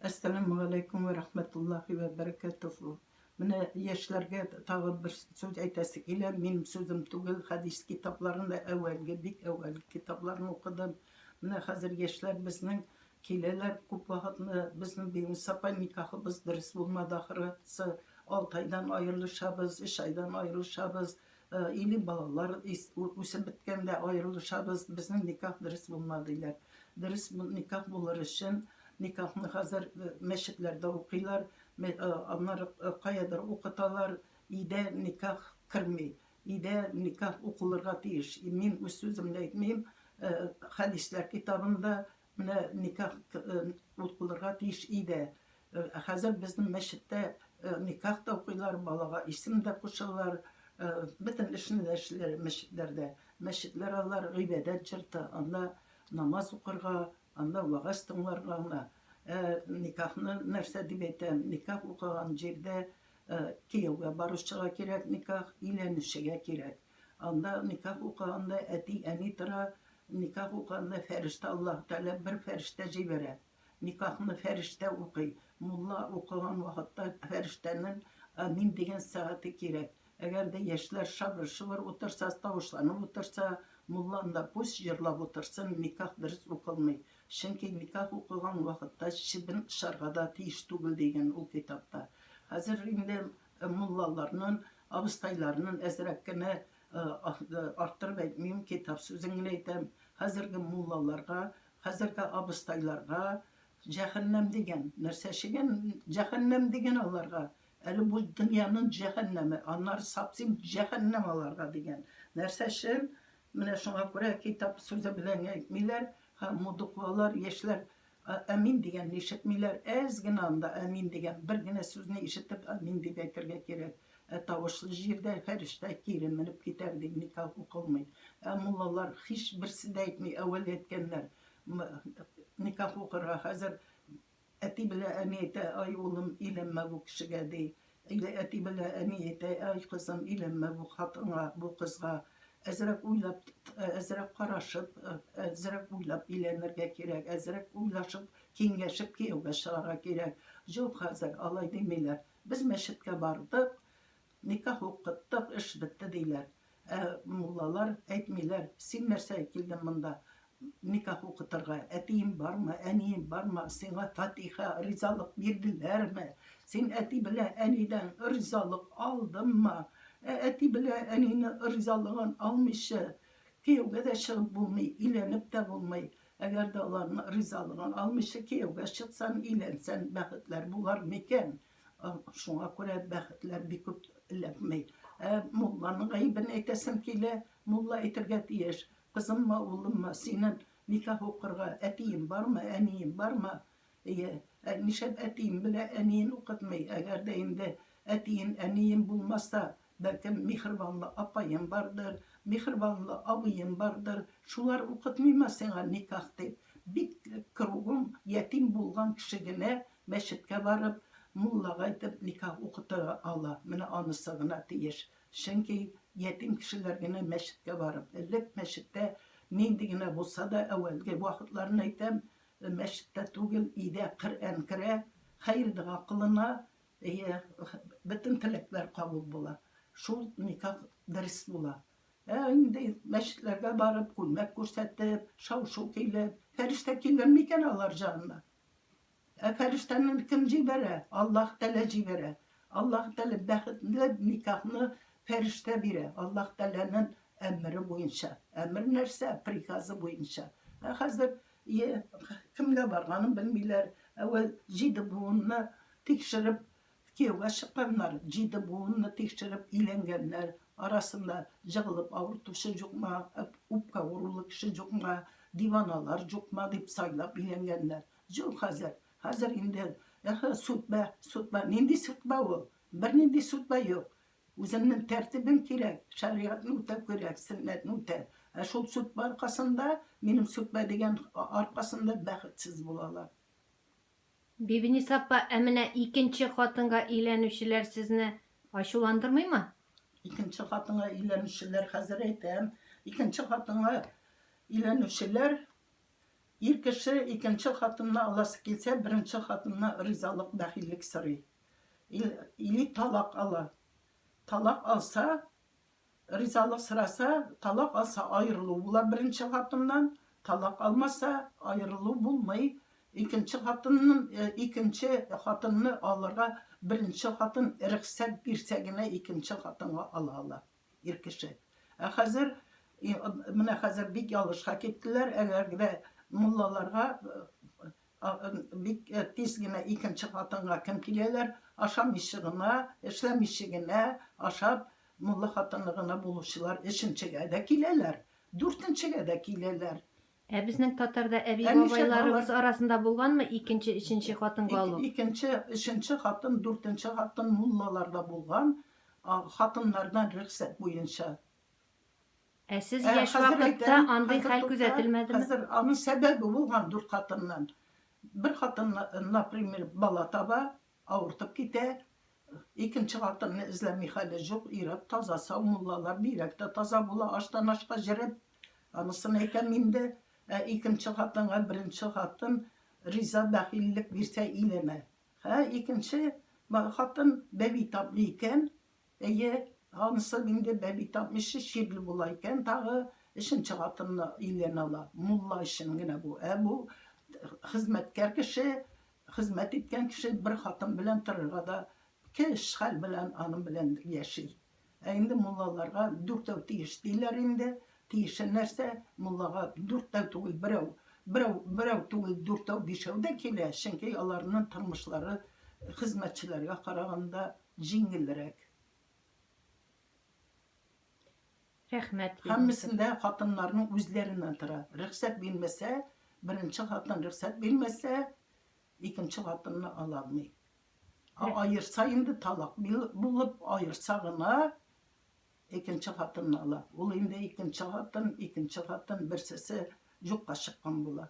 Әссәламу алейкум вә рахмәтуллахи вә бәрәкәтүһү. Менә яшьләргә тагы бер сүз әйтәсе килә. Минем сүзем түгел, хәдис китапларында әүвәлге, бик әүвәлге китапларны укыдым. Менә хәзер яшьләр безнең киләләр күп вакытны безнең Бибис апа никахыбыз дөрес булмады ахрысы. Алты айдан аерылышабыз, өч айдан аерылышабыз. Или балалар үсеп беткәндә аерылышабыз, безнең никах дөрес булмады диләр. Дөрес никах булыр өчен, никахны хәзер мәчетләрдә укыйлар, аннары каядыр укыталар, өйдә никах керми, өйдә никах укылырга тиеш. Мин үз сүземне әйтмим, хәдисләр китабында Менә никах ул булырга тиеш иде. Ә хәзер безнең мәчеттә никах та укыйлар, балага исем дә кушалар, бөтен эшне дә эшлиләр мәчетләрдә. Мәчетләр алар гыйбадәт җорты, анда намаз укырга, анда вәгазь тыңларга гына. Ә никахны нәрсә дип әйтәм, никах укыган җирдә кияүгә баручыга кирәк никах, өйләнүчегә кирәк. Анда никах укыганда әти, әни тора, никах укыганда фәрештә Аллаһ Тәгалә бер фәрештә җибәрә. Никахны фәрештә укый. Мулла укыган вакытта фәрештәнең Амин дигән сәгате кирәк. Әгәр дә яшьләр шабыр-шобыр утырса, тавышланып утырса, мулла анда пусть җырлап утырсын, никах дөрес укылмый. Чөнки никах укыган вакытта чебен очарга да тиеш түгел, дигән ул китапта. Хәзер инде муллаларнын, абыстайларнын әзрәк кенә арттырып әйтмим, китап сүзен генә әйтәм, хәзерге муллаларга, хәзерге абыстайларга җәһәннәм дигән нәрсә чегән, җәһәннәм дигән аларга, әле бу дөньянын җәһәннәме, аннары сапсим җәһәннәм аларга дигән нәрсә чын, менә шуңа күрә китап сүзе белән әйтмиләр, һәм мудуквалар, яшьләр Әмин дигәнне ишетмиләр, әз генә анда әмин дигән бер генә сүзне ишетеп әмин дип әйтергә кирәк. Ә тавышлы җирдә фәрештә кире менеп китәр дип никах укылмый. Ә муллалар һичберсе дә әйтми, әүвәл әйткәннәр никах укырга, хәзер әти белән әни әйтә, ай улым, өйләнмә бу кешегә, ди. Әйдә, әти белә, әни әйтә, Әй, кызым, өйләнмә бу хатынга, бу кызга. Әзрәк уйлап, әзрәк карашып, әзрәк уйлап өйләнергә кирәк, әзрәк уйлашып, киңәшеп кияүгә чыгарга кирәк. Җук, хәзер алай димиләр. Без мәчеткә бардык, никах укыттык, эш бетте, диләр. Ә муллалар әйтмиләр, Син нәрсә килдең монда никах укытырга? Әтиең бармы, әниең бармы, сиңа фатиха, ризалык бирделәрме? Син әти белән әнидән ризалык алдыңмы? Ә әти белән әнине ризалыгын алмыйча, кияүгә дә чыгып булмый, өйләнеп тә булмый. Әгәр дә аларның ризалыгын алмыйча кияүгә чыксаң, өйләнсәң, бәхетләр булар микән? Шуңа күрә бәхетләр бик күп эләкми. Ә мулланың гаебен әйтәсем килә. Мулла әйтергә тиеш, кызыммы, улыммы, синен никах укырга әтиең бармы, әниең бармы? Әйе, ә нишләп әтиең белән әниен укытмый? Әгәр дә инде әтиен, әниен булмаса, Бәлкем, миһербанлы апаем бардыр, миһербанлы абыем бардыр, шулар укытмыймы сиңа никах дип? Бик кругом ятим булган кеше генә мәчеткә барып, муллага әйтеп никах укытыра ала. Менә анысы гына тиеш. Чөнки ятим кешеләр генә мәчеткә барып, элек мәчеттә нинди генә булса да, әүвәлге вакытларны әйтәм, мәчеттә түгел, өйдә Коръән керә, хәер-дога кылына, Әйе, бөтен теләкләр кабул була. Шул никах дөрес була. Ә инде мәчетләргә барып, күлмәк күрсәтеп, шау-шу килеп, фәрештә килер микән алар җанына? Ә фәрештәне кем җибәрә? Аллаһ Тәгалә җибәрә. Аллаһ Тәгалә бәхетле никахны фәрештә бирә. Аллаһ Тәгаләнең әмере буенча. Әмер нәрсә? Приказы буенча. Ә хәзер Йә, кемгә барганын белмиләр. Әүвәл җиде буынны тикшереп кияүгә чыкканнар. Җиде буынны тикшереп өйләнгәннәр арасында җыгылып авыртучы җукма, үпкә авырулы кеше җукма, диваналар җукма дип сайлап өйләнгәннәр. Җук хәзер. Хәзер инде, эһе, сүтбә, сүтбә. Нинди сүтбә ул? Бернинди сүтбә юк. Үземнең тәртибем кирәк, шәригатьне үтәү кирәк, сөннәтне үтә. Ә шул сүтпә аркасында, минем сүтпә дигән аркасында бәхетсез булалар. Бибинис апа, ә менә икенче хатынга өйләнүчеләр сезне ачуландырмыймы? Икенче хатынга өйләнүчеләр, хәзер әйтәм. Икенче хатынга өйләнүчеләр, ир кеше икенче хатынны аласы килсә, беренче хатынына ризалык, бәхиллек сорый. или талак ала. Талак алса, ризалык сораса, талак алса аерылу була беренче хатыннан, талак алмаса аерылу булмый. Икенче хатыннын, э, икенче хатынны алырга беренче хатын рөхсәт бирсә генә икенче хатынга ала ала. ир кеше. Ә хәзер, менә хәзер бик ялгышка киттеләр, әгәр дә муллаларга бик тиз генә икенче хатынга кем киләләр, ашамыйчы гына, эшләмиче генә, ашап, мулла хатыны гына булучылар өченчегә дә киләләр, дүртенчегә дә киләләр. Ә безнең татарда әби-бабайларыбыз арасында булганмы икенче, өченче хатынга алу? Икенче, өченче хатын, дүртенче хатын муллаларда булган, хатыннардан рөхсәт буенча. Ә сез яшь вакытта андый хәл күзәтелмәдеме? Хәзер аның сәбәбе булган, дүрт хатыннан. Бер хатын, например, бала таба, Авыртып китә, икенче хатынны эзләми хәле җук, ир-ат таза, сау, муллалар бигрәк тә таза була, аштан ашка җереп, анысын әйтәм инде, ә икенче хатынга беренче хатын риза, бәхиллек бирсә иләнә, һә икенче хатын бәби таплый икән, Әйе, анысы инде бәби тапмыйча чирле була икән тагы, өченче хатынны өйләнә ала. Мулла өчен генә бу. Ә бу хезмәткәр кеше, хезмәт иткән кеше бер хатын белән торырга да кеш хәл белән аның белән яши. Ә инде муллаларга дүртәү тиеш диләр инде, Тиешен нәрсә, муллага дүртәү түгел, берәү, берәү, берәү түгел, дүртәү, бишәү дә килә, чөнки аларның тормышлары хезмәтчеләргә караганда җиңелрәк. Рәхмәт. Һәммәсендә хатыннарның үзләреннән тора. Рөхсәт бирмәсә, беренче хатын рөхсәт бирмәсә, икенче хатынны ала алмый. Аерса инде талак булып, аерса гына Икенче хатынны ала. Ул инде икенче хатын, икенче хатын, берсесе юкка чыккан була.